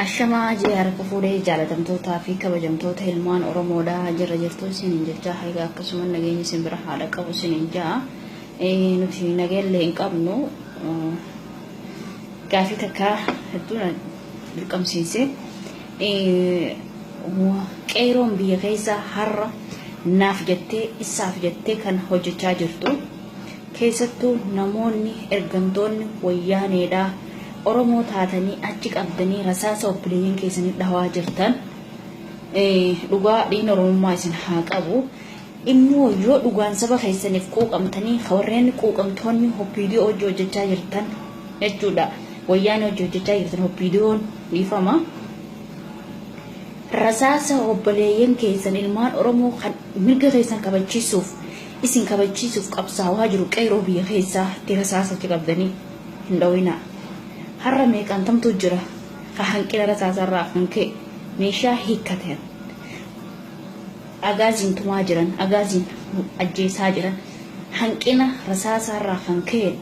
Ashamaa JR Kufuudhee jaalatamtootaa fi kabajamtoota ilmaan Oromoodha jirra jirtu isiniin jechaa haga akkasuma nageenyi isin bira haadha qabu isiniin ja'a. Nuti nageellee hin qabnu gaafii takka hedduu na dirqamsiise. Qeeroon biyya keessa har'a naaf jettee isaaf jettee kan hojjechaa jirtu. Keessattuu namoonni ergamtoonni wayyaaneedhaa Oromoo taatanii achi qabdanii rasaasa obboleeyyan keessanii dhawaa jirtan dhugaa dhiigni Oromummaa isin haa qabu. Immoo yoo dhugaan saba keessaniif quuqamtanii warreen quuqamtoonni hoppiidiyoo hojii hojjechaa jirtan jechuudha. Wayyaanee hojii hojjechaa jirtan hoppiidiyoon dhiifama. Rasaasa obboleeyyan keessan ilmaan Oromoo kan mirga keessan kabachiisuuf Isin kabachiisuuf qabsaawaa jiru qeeroo biyya keessaa itti rasaasa achi qabdanii hin dhowinaa. Har'a meeqantamtu jira ka hanqina rasaasa irraa kan ka'e meeshaa hiikkatan Agaaziin tumaa jiran, Agaaziin ajjeesaa jiran, hanqina rasaasaa irraa kan ka'een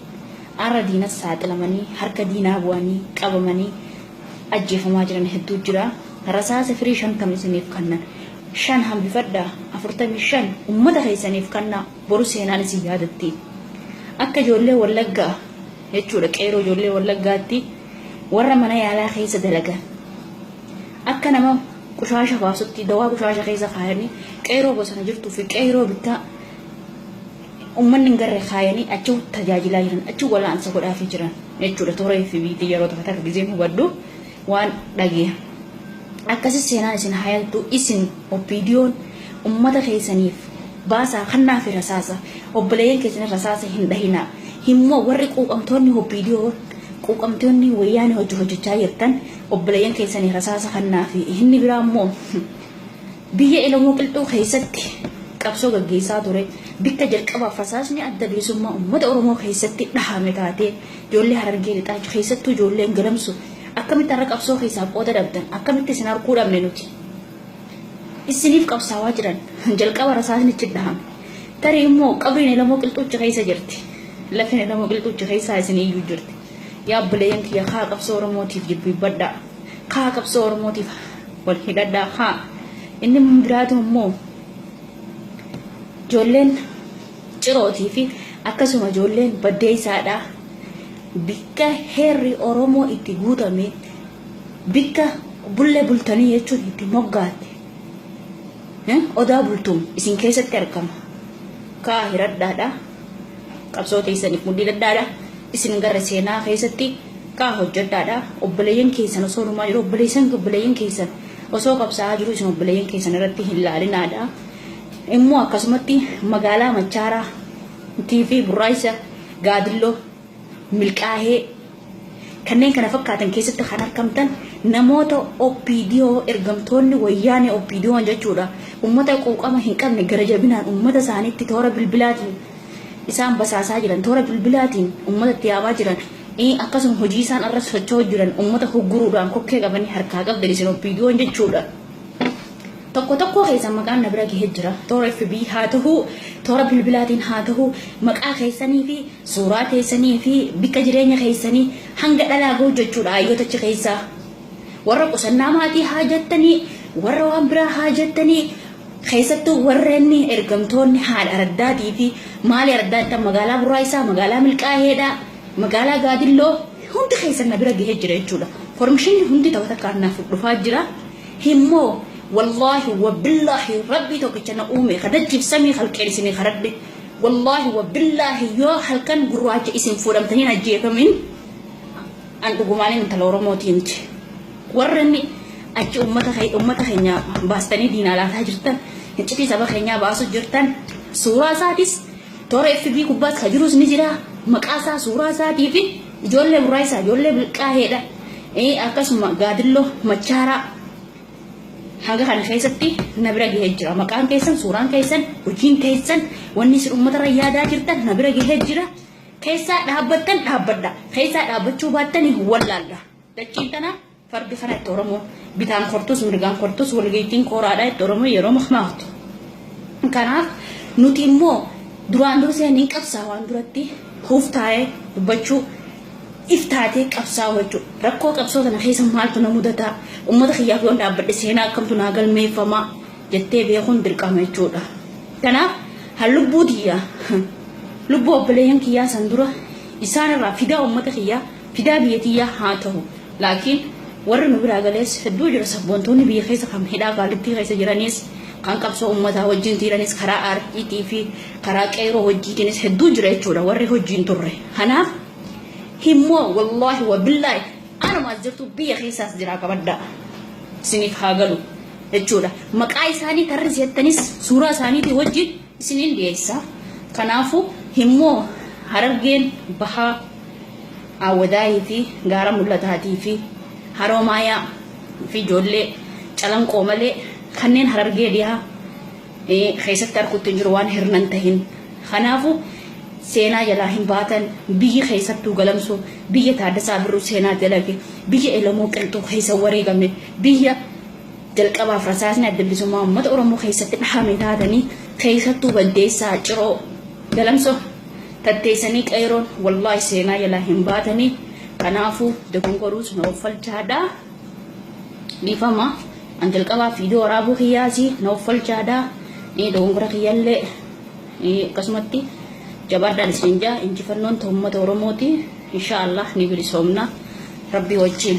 har'a diinaf saaxilamanii, harka diinaa bu'anii, qabamanii, ajjeefamaa jiran hedduu jira. Rasaasa firii 50 isiniif kannan. Shan hambifadhaa, 45 ummata keessaniif kannaa, boru seenaan isin yaadatti. Akka ijoollee Wallaggaa jechuudha qeeroo ijoollee Wallaggaatti warra mana yaalaa keessa dalagan. Akka nama qushaasha baasutti dawaa qushaasha keessa kaayanii qeeroo bosona jirtuu fi qeeroo bittaa Uummanni hin garre kaayanii achi tajaajilaa jiran, achi wal'aansa godhaafii jiran jechuudha. Toora FB'tiin yeroo tokko takka gizeen hubadhu waan dhageera. Akkasii seenaan isin hayaltu isin OPDOn uummata keessaniif baasaa kannaafi rasaasa obboleeyyan keessanii rasaasa hin dhahinaa. Himmoo warri quuqamtoonni OPDO quuqamtoonni wayyaanee hojii hojjechaa jirtan obboleeyyan keessanii rasaasa kannaafi inni biraa immoo Biyya Elamoo Qilxuu keessatti qabsoo gaggeessaa ture, bikka jalqabaaf rasaasni Adda Bilisummaa Ummata Oromoo keessatti dhahame taatee, ijoollee Harargee Lixaa keessattuu ijoolleen Galamsu akkamitti har'a qabsoo keessaa qooda dhabdan, akkamitti isin arguu dhabne nuti? Issiniif qabsaawaa jiran jalqaba rasaasni itti dhahame. Tarii immoo qabriin Elamoo Qilxuuchi keessa jirti. Lafeen Elamoo Qilxuuchi keessaa isin iyyuu jirti. Yaa obboleeyyan kiyya kaa qabsoo Oromootiif jilbiibbadhaa, kaa qabsoo Oromootiif wal hidhadhaa, kaa inni biraatu immoo ijoolleen cirootii fi akkasuma ijoolleen baddeessaadhaa bikka heerri Oromoo itti guutame bikka bullee bultanii jechuun itti moggaatte odaa bultuun isin keessatti argama. Kaa hiradhaadhaa. qabsoo teessaniif mudhii dadhaadha isin gara seenaa keessatti kaa hojjedhaadha obboleeyyan keessan osoo dhumaa jiru obboleessan obboleeyyan keessan osoo qabsaa'aa jiru isin obboleeyyan keessan irratti hin laalinaadha immoo akkasumatti magaalaa machaaraa tiifii burraayisa gaadilloo milkaahee kanneen kana fakkaatan keessatti kan argamtan namoota OPDO ergamtoonni wayyaanee OPDO'n jechuudha ummata quuqama hin qabne gara jabinaan ummata isaaniitti toora bilbilaatiin isaan basaasaa jiran toora bilbilaatiin ummata itti yaamaa jiran akkasuma hojii isaan irra socho'aa jiran ummata hugguruudhaan kokkee qabanii harkaa qabdan isin OPDO'n jechuudha. tokko tokkoo keessan maqaan na bira gahee jira toora fb haa tahuu toora bilbilaatiin haa tahuu maqaa keessanii fi suuraa keessanii fi bakka jireenya keessanii hanga dhalaa ga'u jechuudha hayyotachi keessaa warra qusannaa maatii haa jettanii warra waan biraa haa jettanii keessattuu warreen ergamtoonni haadha araddaatii fi maali araddaattan magaalaa burraayisaa magaalaa milqaaheedha magaalaa gaadilloo hundi keessan na bira gahee jira jechuudha formishinni hundi ta'u takkaan naaf dhufaa jira. hin moo wallahi wabillahi rabbii tokkicha na uume ka dachiif samii halqeen isinii karadhe wallahi wabillahi yoo halkan gurraacha isin fuudhamtaniin ajjeefamin an dhugumaanii intala oromootii miti warreen achi ummata kee- ummata keenya baastanii diinaa laataa jirtan hiccitii saba keenyaa baasuu jirtan suuraa isaatis toora fb gubbaas ka jirus ni jira maqaa isaa suuraa isaatii fi Ijoollee Burraayisaa, ijoollee Bilqaaheedha. Akkasuma Gaadilloo, Machaaraa hanga kana keessatti na bira gahee jira. Maqaan keessan, suuraan keessan, hojiin keessan, wanni isin uummatarra yaadaa jirtan na bira gahee jira. Keessaa dhaabbattan dhaabbadha. Keessaa dhaabbachuu baattanii wallaalda. Dachiin tanaa Fardi kana itti Oromoon bitaan kortus mirgaan kortus walga'iittiin kooraadha itti Oromoon yeroo makmaaktu. Kanaaf nuti immoo duraan dursee ni qabsaa waan duratti huuf taa'ee dubbachuu if taatee qabsaa'u jechuudha. Rakkoo qabsoo tana keessa maaltu na mudataa? Uummata kiyyaaf yoon dhaabbadhe seenaa akkamtu naa galmeeffamaa? jettee beekuun dirqama jechuudha. Kanaaf han lubbuu tiyyaa lubbuu obboleeyyan kiyyaa san dura isaan irraa fidaa uummata kiyyaa fidaa biyya tiyyaa haa tahu laakiin warri nu biraa galees hedduu jira sabboontoonni biyya keessa kan hidhaa qaalittii keessa jiraniis kan qabsoo ummataa wajjin tiiranis karaa aartiitii fi karaa qeeroo wajjiitiinis hedduu jira jechuudha warri hojiin turre kanaaf himmoo wallaahi wabillaahi anumaas jirtu biyya keessaas jiraa qabaddaa isiniif haa galu jechuudha maqaa isaanii tarrisi jettanis suuraa isaaniitii wajjin isiniin dhiyeessa. Kanaafuu himmoo Harargeen Bahaa Aawwadaayii fi Gaara Mul'ataatii fi Haroomaayaa fi ijoollee Calanqoo malee kanneen Harargee Dhihaa keessatti arkutti hin jiru waan hirna hin tahin. Kanaafuu seenaa jalaa hin baatan biyyi keessattuu Galamsoo biyya Taaddasaa Birruu seenaa dalage, biyya Elemoo Qilxuu keessa wareegame, biyya. Jalqabaaf rasaasni Adda Bilisummaa Uummata Oromoo keessatti dhahame taatanii keessattuu Baddeessaa, Ciroo, Galamsoo tatteessanii Qeeyroon wallaahi seenaa jalaa hin baatanii kanaafuu dogongoruus na offalchaadhaa. Dhiifama an jalqabaaf viidiyoo waraabuu kiyyaasi na offalchaadhaa. Dogongora kiyyallee akkasumatti jabaadhaan isin jaa injifannoon uummata Oromooti. Inshaa Allah ni bilisoomna rabbii wajjin.